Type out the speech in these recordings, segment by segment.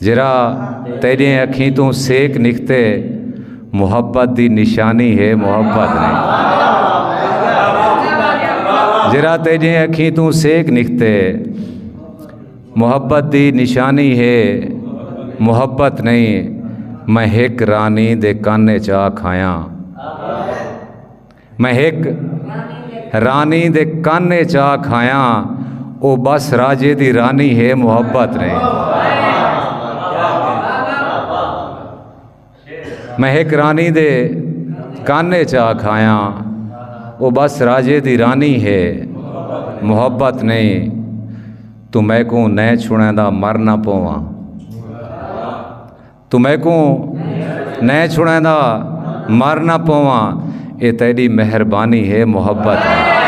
جیرھا تیڈیں اکھیں توں سیک نکھتے محبت دی نشانی ہے محبت نہیں جیرھا تیڈیں اکھیں توں سیک نکھتے محبت دی نشانی ہے محبت نہیں میں ہک رانی دے کانے چا کھایاں میں ہک رانی دے کن اچ آ کھایا او بس راجے دی رانی ہے محبت نے میں ہک رانی دے کن اچ آ کھایا او بس راجے دی رانی ہے محبت نہیں تو میں کو نہ چھڑیں دا مر نہ پواں تو میکوں نئے چھڑیں دا مر نہ پواں اے تیڈی مہربانی ہے محبت ہے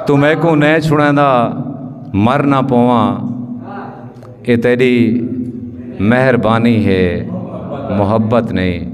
تو میکوں نئے چھڑیں دا مر نہ پواں اے تیڈی مہربانی ہے محبت نہیں